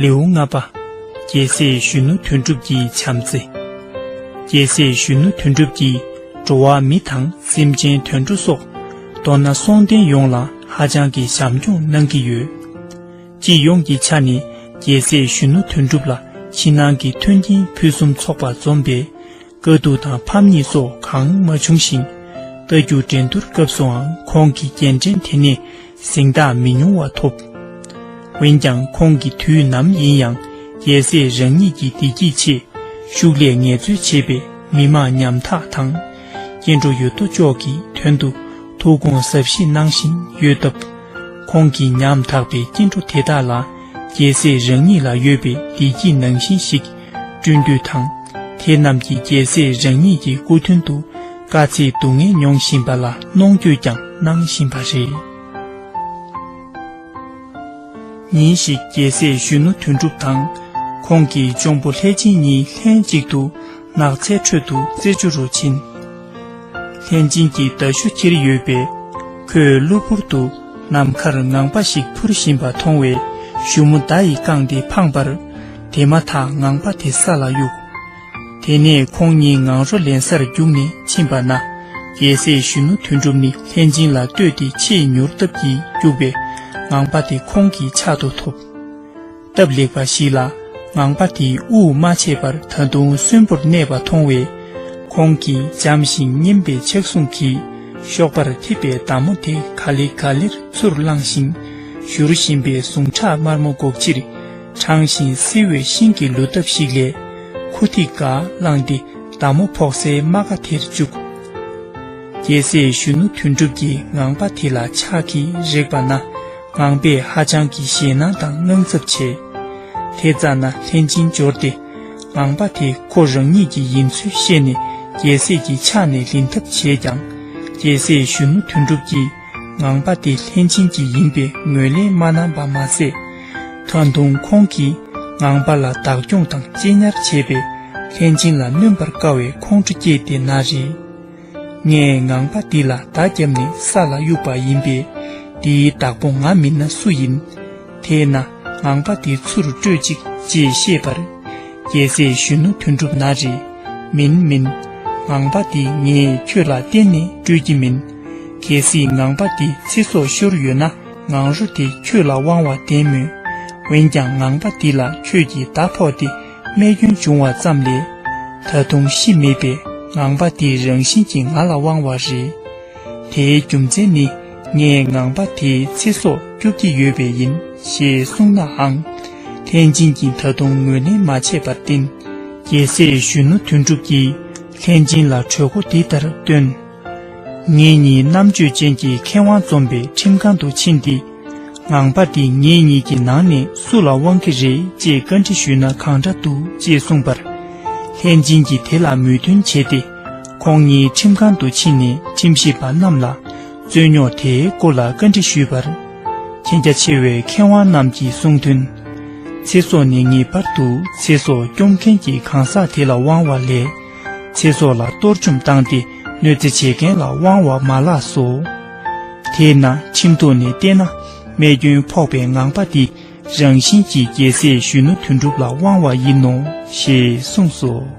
ལེའུ་ལྔ་པ། རྒྱལ་སྲས་གཞོན་ནུ་དོན་གྲུབ་ཀྱི་བྱམས་བརྩེ། རྒྱལ་སྲས་གཞོན་ནུ་དོན་གྲུབ་ཀྱིས་འགྲོ་བ་མི་དང་སེམས་ཅན་དུད་འགྲོ་སོགས་མདོར་ན་སོང་བསྟན་ཡོངས་ལ་ཧ་ཅང་གི་བྱམས་སྐྱོང་གནང་གི་ཡོད། སྤྱི་ཡོངས་ཀྱི་ཆ་ནས་རྒྱལ་སྲས་གཞོན་ནུ་དོན་གྲུབ་ལ་ཕྱི་ནང་གི་མཐུན་རྐྱེན་ཕུན་སུམ་ཚོགས་པ་འཛོམས་པས། དཀའ་སྡུག་དང་ཕམ་ཉེས་སོགས་གང་མ་བྱུང་ཞིང། རྟ་རྒྱུག་འགྲན་སྡུར་སྐབས་སུའང་ཁོང་གི་རྒྱན་འགྲེང་དེ་ནས་གཟེངས་རྟགས་མི་ཉུང་བ་ཐོབ། འོན་ཀྱང་ཁོང་གིས་དུས་ནམ་ཡིན་ཡང་རྒྱལ་སྲས་རང་ཉིད་ཀྱི་བདེ་སྐྱིད་ཆེད་ཤུགས་ལས་ངལ་རྩོལ་བྱེད་པའི་མི་དམངས་ཉམ་ཐག་དང། སྐྱེ་འགྲོ་ཡོད་དོ་ཅོག་གི་དོན་དུ་ཐུགས་དགོངས་ཟབ་བཞེས་གནང་བཞིན་ཡོད་སྟབས། ཁོང་གིས་ཉམ་ཐག་པའི་སྐྱེ་འགྲོ་དེ་དག་ལ་རྒྱལ་སྲས་རང་ཉིད་ལ་ཡོད་པའི་བདེ་སྐྱིད་ནང་བཞིན་ཞིག་བསྐྲུན་འདོད་དང། དེ་རྣམས་ཀྱིས་རྒྱལ་སྲས་རང་ཉིད་ཀྱི་སྐུ་མདུན་དུ་དཀའ་ཚེགས་སྡུག་བསྔལ་མྱོང་བཞིན་པ་ལ་གནོང་འགྱོད་ཀྱང་གནང་བཞིན་པ་རེད། ཉིན་ཞིག་རྒྱལ་སྲས་གཞོན་ནུ་དོན་གྲུབ་དང་ཁོང་གི་གཅུང་པོ་ལྷས་བྱིན་གཉིས་ལྷན་ཅིག་ཏུ་ནགས་ཚལ་ཁྲོད་དུ་རྩེད་འཇོ་རུ་ཕྱིན། ལྷས་སྦྱིན་གྱི་མདའ་གཞུ་ཁྱེར་ཡོད་པས། ཁོས་གློ་བུར་དུ་ནམ་མཁར་ངང་པ་ཞིག་འཕུར་བཞིན་པ་མཐོང་བས་གཞུ་མོ་མདའ་ཡིས་བཀང་སྟེ་འཕངས་པར། དེ་མ་ཐག་ངང་པ་དེ་ས་ལ་གཡུགས། དེ་ནས་ཁོང་གཉིས་ངང་རོ་ལེན་སར་རྒྱུགས་ནས་ཕྱིན་པ་ན། རྒྱལ་སྲས་གཞོན་ནུ་དོན་གྲུབ་ནི་ལྷས་སྦྱིན་ལ་ལྟོས་ཏེ་ཆེས་མྱུར་སྟབས་ཀྱིས་རྒྱུགས་པས་ངང་པ་དེ་ཁོང་གི་ཕྱག་ཏུ་ཐོབ། སྟབས་ལེགས་པ་ཞིག་ལ་ངང་པ་དེས་དབུགས་མ་ཆད་པར་ད་དུང་གསོན་པོར་གནས་པ་མཐོང་བས། ཁོང་གིས་འཇམ་ཞིང་མཉེན་པའི་ཕྱག་ཟུང་གིས་གཤོག་པར་འཐིབས་པའི་མདའ་མོ་དེ་ག་ལེ་ག་ལེར་ཚུར་བླངས་ཤིང། བཞུར་བཞིན་པའི་ཟུངས་ཁྲག་དམར་མོ་སྒོག་ཕྱིར་དྲངས་ཤིང་བསིལ་བའི་ཤིང་གི་ལུད་སྟབས་ཤིག་ལས། ཁུ་ཐིག་འགའ་བླངས་ཏེ་མདའ་མོ་ཕོག་སའི་རྨ་ཁ་དེར་བཅུག། རྒྱལ་སྲས་གཞོན་ནུ་དོན་གྲུབ་ཀྱིས་ངང་པ་དེ་ལ་ཕྱག་གིས་རེག་པ་ན། ངང་པས་ཧ་ཅང་གི་ཞེད་སྣང་དང་དངངས་འཚབ་བྱས། དེ་ཙ་ན་ལྷན་ཅིང་འབྱོར་ཏེ། ངང་པ་དེ་ཁོ་རང་ཉིད་ཀྱི་ཡིན་ཚུལ་ཤེས་ནས་རྒྱལ་སྲས་ཀྱི་ཕྱག་ནས་ལེན་ཐབས་བྱས་ཀྱང། རྒྱལ་སྲས་གཞོན་ནུ་དོན་གྲུབ་ཀྱིས་ངང་པ་དེ་ལྷན་ཅིང་གི་ཡིན་པའི་ངོས་ལེན་མ་གནང་པ་མ་ཟད། ད་དུང་ཁོང་གིས་ངང་པ་ལ་བདག་སྐྱོང་དང་གཅེས་ཉར་བྱས་པས་ལྷན་ཅིང་ལ་གནོན་པར་དཀའ་བའི་ཁོང་ཁྲོ་སྐྱེས་ཏེ་ན་རེ། ངས་ངང་པ་འདི་ལ་བདག་བརྒྱབ་ནས་ས་ལ་གཡུགས་པ་ཡིན་པས། འདིའི་བདག་པོ་ང་མིན་ན་སུ་ཡིན། དེས་ན་ངང་པ་འདི་ཆུ་རུ་སྤྲོད་ཅིག་ཅེས་བཤད་པར། རྒྱལ་སྲས་གཞོན་ནུ་དོན་གྲུབ་ན་རེ། མིན་མིན། ངང་པ་འདི་ངས་ཁྱོད་ལ་གཏན་ནས་སྤྲོད་ཀྱི་མིན། གལ་སྲིད་ངང་པ་འདི་ཚེ་སྲོག་ཤོར་ཡོད་ན་ངང་རོ་དེ་ཁྱོད་ལ་དབང་བ་བདེན་མོད། འོན་ཀྱང་ངང་པ་འདི་ལ་ཁྱོད་ཀྱིས་བརྡ་ཕོག་སྟེ། རྨས་སྐྱོན་འབྱུང་བ་ཙམ་ལས་ད་དུང་ཤི་མེད་པའི་ངང་པ་དེའི་རང་བཞིན་གྱིས་ང་ལ་དབང་བ་རེད། དེའི་རྒྱུ་མཚན་ནི་ངས་ངང་པ་དེའི་ཚེ་སྲོག་སྐྱོབ་ཀྱི་ཡོད་པས་ཡིན་ཞེས་གསུངས་ནའང། ཐེན་ཅིན་གྱིས་ད་དུང་ངོས་ལེན་མ་བྱས་པར་བརྟེན། རྒྱལ་སྲས་གཞོན་ནུ་དོན་གྲུབ་ཀྱིས་ཐེན་ཅིན་ལ་གྲོས་འགོ་འདི་ལྟར་བཏོན། ངེད་གཉིས་རྣམ་དཔྱོད་ཅན་གྱི་མཁས་དབང་འཛོམས་པའི་ཁྲིམས་ཁང་དུ་ཕྱིན་ཏེ། ངང་པ་འདི་ངེད་གཉིས་ཀྱི་ནང་ནས་སུ་ལ་དབང་གི་རེད་ཅེས་བཀའ་འདྲི་ཞུས་ན་གང་འདྲ་འདུག་ཅེས་གསུངས་པར། ལྷས་སྦྱིན་གྱིས་དེ་ལ་མོས་མཐུན་བྱས་ཏེ། ཁོང་གཉིས་ཁྲིམས་ཁང་དུ་ཕྱིན་ནས་ཁྲིམས་ཞིབ་པ་རྣམས་ལ་རྩོད་རྙོག་དེའི་སྐོར་ལ་བཀའ་འདྲི་ཞུས་པར། མཁྱེན་རྒྱ་ཆེ་བའི་མཁས་དབང་རྣམས་ཀྱིས་གསུངས་དོན། ཚེ་སྲོག་ནི་ངེས་པར་དུ་ཚེ་སྲོག་སྐྱོབ་མཁན་གྱི་གང་ཟག་དེ་ལ་དབང་བ་ལས། ཚེ་སྲོག་ལ་གཏོར་བཅོམ་བཏང་སྟེ་གནོད་འཚེ་བྱེད་མཁན་ལ་དབང་བ་མ་ལགས་སོ། དེས་ན་ཁྲིམས་ཐོག་ནས་བལྟས་ན་རྨས་སྐྱོན་ཕོག་པའི་ངང་པ་འདི་རང་བཞིན་གྱིས་རྒྱལ་སྲས་གཞོན་ནུ་དོན་གྲུབ་ལ་དབང་བ་ཡིན་ནོ་ཞེས་གསུངས་སོ།